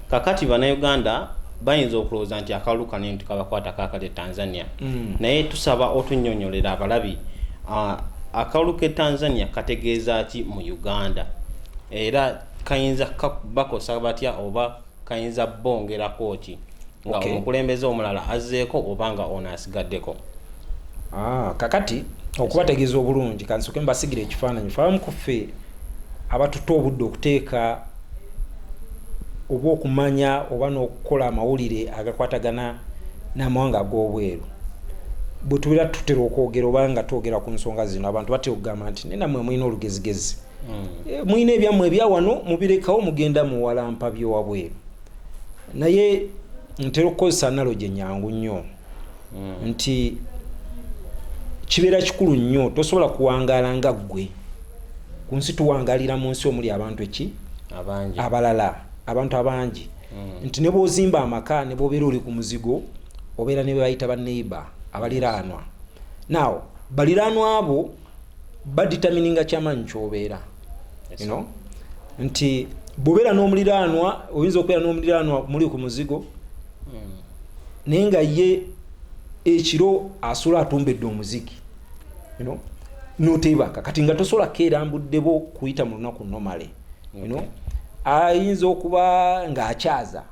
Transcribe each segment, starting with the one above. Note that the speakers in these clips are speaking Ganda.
kakati banauganda bayinza okulowooza nti akalulu kano eno tukabakwata kakati e tanzania mm. naye tusaba otunyonyolera abalabi uh, akalulu ke tanzania kategeeza ki mu uganda era kayinza bakosa batya oba kayinza bongerako ki nga okay. omukulembeze omulala azzeeko oba nga ono asigaddeko ah, kakati okubategeeza obulungi kansoke mbasigira ekifaananyi fabamu kuffe abatutte obudde okuteeka oba okumanya oba n'okukola amawulire agakwatagana n'amawanga ag'obweru bwe tubeera tutera okwogera oba nga twogera ku nsonga zino abantu batera okugamba nti naye namwe mulina olugezigezi hmm. eh, mulina ebyammwe ebya wano mubirekawo mugenda muwalampa byewabweru naye ntera okukozesa analogy enyangu nnyo hmm. nti kibeera kikulu nnyo tosobola kuwangaala nga ggwe ku nsi tuwangalira mu nsi omuli abantu eki abalala abantu abangi hmm. nti ne bwozimba amaka ne bwobeera oli ku muzigo obeera ne bebayita baneiba abaliraanwa naawo baliraanwa abo badetermininga kyamaanyi kyobeera you know? nti bwobeera n'omuliraanwa oyinza okubeera n'omuliraanwa muli ku muzigo hmm. naye nga ye ekiro asula atumbedde omuziki you know? notebaka kati nga tosobola keerambuddebo kuyita mu lunaku nomale you know? ayinza okuba ng'akyaza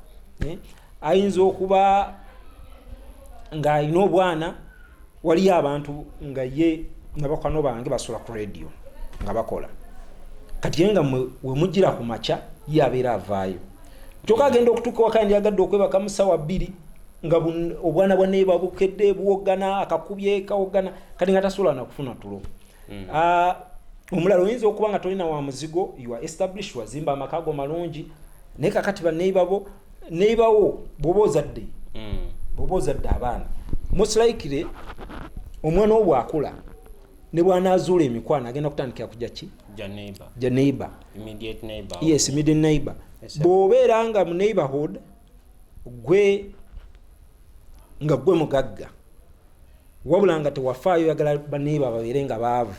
eh? ayinza okuba ng'alina obwana waliyo abantu nga ye nabakwano bange basula ku radio nga bakola kati ye nga wemujira ku makya ye abeera avaayo kyoka agenda okutuuka waka ndyagadde okwebaka mu sawa bbiri nga obwana bwa naye babukedde buwogana akakubye kawogana kati nga tasobola nakufuna tulo mm. ah, omulala oyinza okuba nga tolina wa muzigo ua establish wazimba amaka go malungi naye kakati baneiba bo nebawo bwoba ozadde hmm. bwoba ozadde abaana musilaikire omwana wo bwakula ne bwanazuula emikwano agenda kutandikira kuja ki ja neighbor yes middle neighbor bwobeera nga mu neighborhood gwe nga gwe mugagga wabula nga tewafaayo oyagala baneebo ababeere nga baavu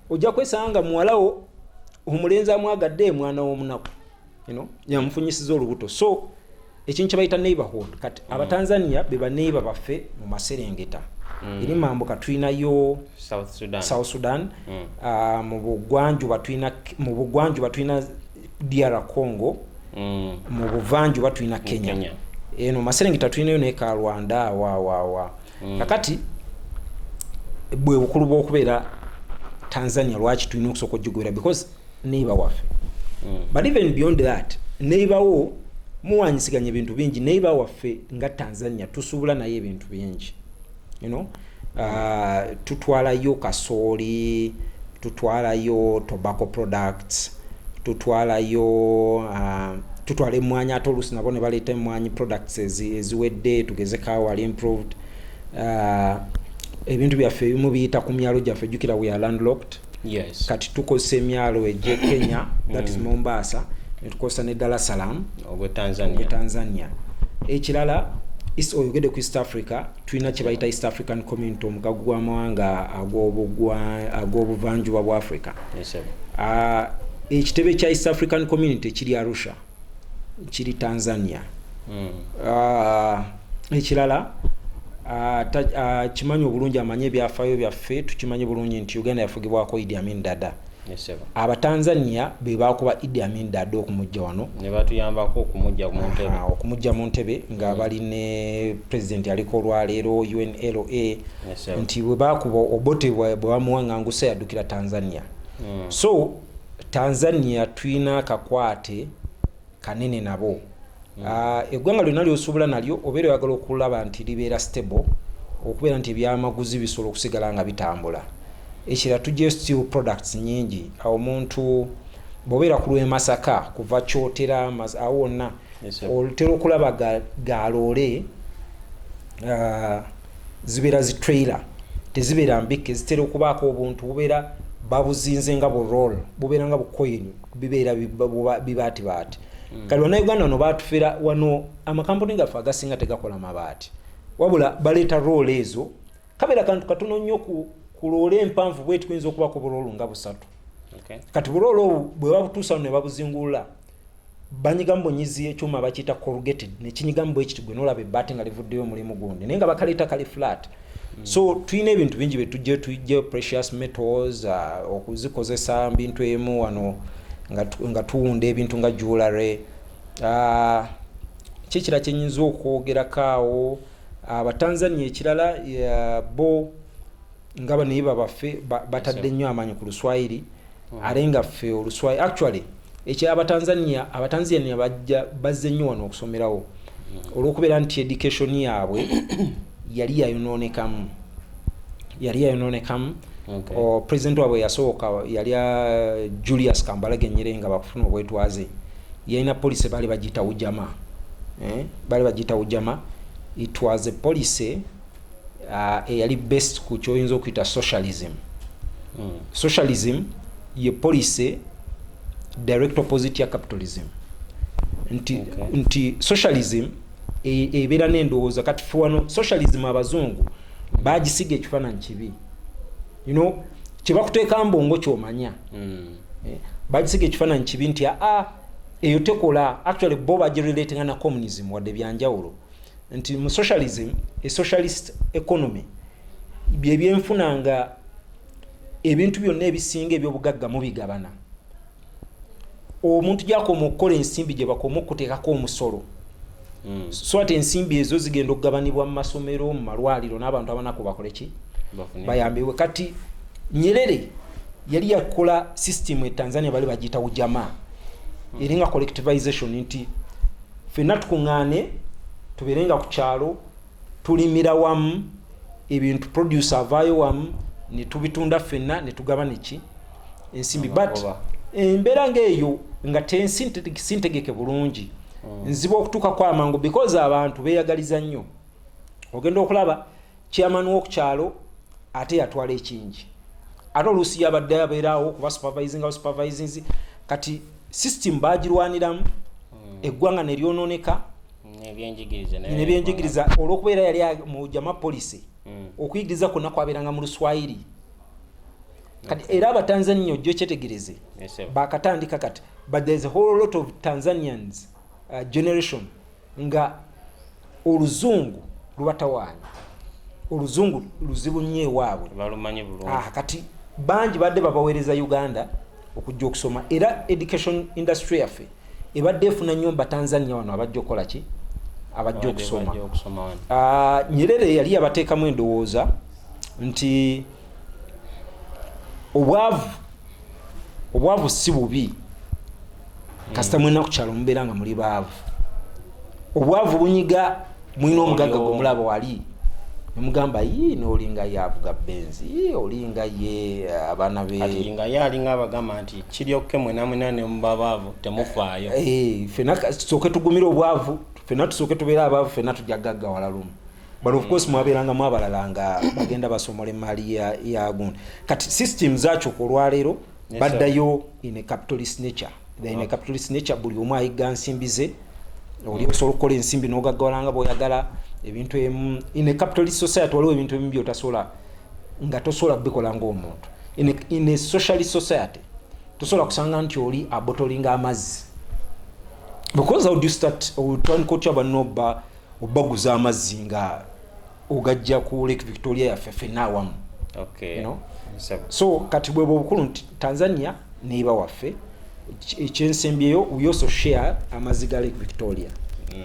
ojja kwesanga nga muwalawo omulenzi amwagadde emwana w'omunaku yamufunyisiza olubuto so ekintu kyebayita neighborhood kati mm. abatanzania be baneighbor baffe mu maserengeta mm. eri mambuka tulinayo south sudan, south sudan. Mm. Uh, mu bugwanjuba tulina DR Congo mm. mu buvanjuba tulina Kenya, Kenya. eno maserengeta tulinayo naye ka Rwanda wawawa mm. kakati bwe bukulu bw'okubeera Tanzania lwaki tulina okusooka okugigobera because neighbor waffe mm. but even beyond that neighbor wo muwanyisiganya ebintu bingi neighbor waffe nga Tanzania tusuubula naye ebintu bingi you know, uh, tutwalayo kasooli tutwalayo tobacco products tutwalayo uh, tutwala emwanyi ate oluusi nabo ne baleeta emwanyi products eziwedde tugeze kawal improved uh, ebintu byaffe ebimu biyita ku myalo gyaffe jukira we are landlocked yes. kati tukozesa emyalo egye kenya that is mm. mombasa netukozesa ne dar es salaam ogwe tanzania, tanzania. ekirala oyogede ku east africa tulina kyebayita east african community omugagu gwamawanga ag'obuvanjuba bwa africa ah, ekitebe kya east african community kiri arusha kiri tanzania mm. uh, ekirala akimanyi uh, uh, obulungi amanyi ebyafayo byaffe tukimanyi bulungi nti uganda yafugibwako idi amin dada abatanzania bebakuba idi amin dada okumujja wano okumujja mu ntebe nga mm. bali ne president aliko olwaleero unla nti webakuba obote bwebamuwangangusa yaddukira tanzania mm. so Tanzania tulina akakwate kanene nabo mm. ah, eggwanga lyonna lyosobola nalyo obeera oyagala okulaba nti libeera stable okubeera nti ebyamaguzi bisobola okusigala nga bitambula ekira tujja steel products nyingi awo omuntu bobeera ku lwemasaka kuva kyotera awo wonna otera okulaba galoole ah, zibeera zi trailer tezibeera mbikka ezitera okubaako obuntu bubeera babuzinze nga bu roll bubeera nga bukoyini bibeera bibaatibaati hmm. kati banauganda wano batufera wano amakampuni gaffe agasinga tegakola mabaati wabula baleeta roll ezo kabeera kantu katono nnyo kuloola empanvu bwetuyinza okubako buroolu nga busatu kati buroolo obu bwebabutuusa no nebabuzingulula banyigamu bunyizi ekyuma bakiyita corrugated nekinyigamu bwekiti gwe nolaba ebaati nga livuddeyo omulimu gundi naye nga bakaleeta kali flat mm. so tulina ebintu bingi byetujje tujje precious metals uh, okuzikozesa mbintu emu wano nga tuwunda ebintu nga jewelry uh, kyekira kyenyinza okwogerakaawo abatanzania uh, ekirala uh, bo nga banayiba baffe batadde nnyo amaanyi ku luswayiri mm. ate nga ffe oluswayiri actually ekyo abatanzania abatanzania bajja bazze nnyo wano okusomerawo mm. olwokubeera nti education yaabwe yali yayonoonekamu yali yayonoonekamu okay. president waabwe yasooka yali uh, julius kambalage nyere nga bakufuna obwetwaze yalina policy baali bagiyita ujama eh? baali bagiyita ujama it was a policy uh, eyali best ku kyoyinza okuyita socialism mm. socialism ye policy direct opposite ya capitalism nti, okay. nti socialism e, ebeera e, n'endowooza kati fe wano socialism abazungu bagisiga ekifaananyi kibi you know kyebakuteeka mbongo kyomanya mm. eh, bagisiga ekifaananyi kibi nti aa ah, ah, eyo tekola actually bo bagirelatinga na communism wadde byanjawulo mm. nti mu socialism e socialist economy byebyenfuna nga ebintu byonna ebisinga ebyobugagga mubigabana omuntu gyakoma okukola ensimbi gyebakoma okutekako omusolo hmm. swati ensimbi ezo zigenda okugabanibwa mu masomero mu malwaliro n'abantu abanaku bakoleki bayambibwe kati nyerere yali yakola system e tanzania bali bagiyita ujamaa hmm. eringa collectivization nti fenna tukuŋŋaane tubeere nga ku kyalo tulimira wamu ebintu produce avaayo wamu ne tubitunda fenna ne tugabana eki ensimbi but embeera ng'eyo nga tensintegeke bulungi mm. nziba okutuukako amangu because abantu beeyagaliza nnyo ogenda okulaba chairman wokukyalo ate yatwala ekingi ate oluusi yabadde abeeraawo kuba supervising aba supervising kati system bagirwaniramu hmm. eggwanga neryononeka nebyenjigiriza olwokubeera yali mujama policy hmm. okuyigiriza kwonna kwabeeranga mu luswayiri kati era abatanzania ojjo kyetegereze bakatandika kati but there's a whole lot of tanzanians uh, generation nga oluzungu lubatawaanya oluzungu luzibu nnyo ewaabwe balumanyi bulungi ah, kati bangi badde babaweereza uganda okujja okusoma era education industry yaffe ebadde efuna nnyo mba tanzania wano abajja okukola ki abajja okusoma ah, nyerere yali yabateekamu endowooza nti obwavu obwavu si bubi kasita mulina ku kyalo mubeera nga muli baavu obwavu bunyiga mulina omugagga gwe mulaba wali nemugamba yi nolinga ye avuga benzi olinga ye eh, abaana benga ye alinga abagamba nti kiryokke mwenamwena nemuba baavu temufaayo eh, fena tusooke tugumire obwavu fena tusooke tubeera abaavu fena tujja gaggawala lumu but of course mwabeerangamu abalala nga bagenda basomola emaali yagun kati system zakyuka olwaleero baddayo in a capitalist nature in a capitalist nature buli omu ayigga nsimbi ze oli osobola okukola ensimbi nogaggawala nga bwoyagala ebintu emu in a capitalist society waliwo ebintu ebimu byotasobola nga tosobola kubikola ngaomuntu in a socialist society tosobola kusanga nti oli abotolinga amazzi because how do you start otandika otya banobba obaguza amazzi nga ogajja ku lake victoria yaffe fenna awamu okay. you know? so kati bwebwe obukulu nti tanzania neiba waffe ekyensembyeyo we also share amazzi ga lake victoria mm.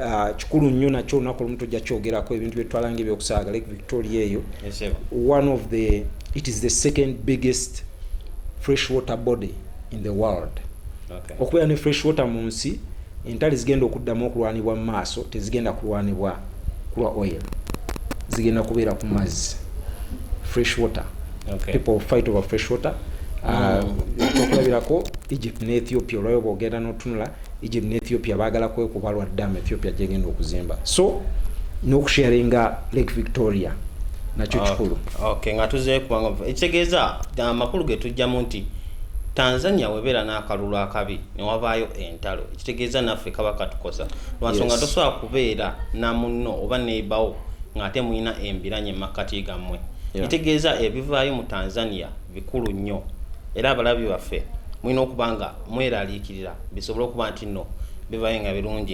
ah, kikulu nnyo nakyo olunaku olumu tojja kyogerako ebintu byetwalanga ebyokusaaga lake victoria eyo one of the it is the second biggest fresh water body in the world Okubeera ne Fresh Water mu nsi, entalo ezigenda okuddamu okulwanibwa mu maaso tezigenda kulwanibwa ku lwa oil, zigenda kubeera ku mazzi, Fresh Water. Okay. People will fight over Fresh Water. Ah, mm. Okulabirako uh, mm. Egypt ne Ethiopia olwayo bwogenda n'otunula Egypt ne Ethiopia baagala kwekuba lwa dam Ethiopia gyegenda okuzimba so n'okusharinga Lake Victoria nakyo kikulu. Okay, nga tuzeeku ekitegeeza amakulu ge tujjamu nti Tanzania webera nakalulu akabi newabaayo entalo ekitegeeza naffe kaba katukosa lwansonga yes. tosobola kubeera namunno oba neibawo ng'ate mulina embiranye mumakkati gammwe yeah. ekitegeeza ebivaayo mu Tanzania bikulu nnyo era abalabi baffe mulina okuba nga mweraliikirira bisobole okuba nti nno bivayo nga birungi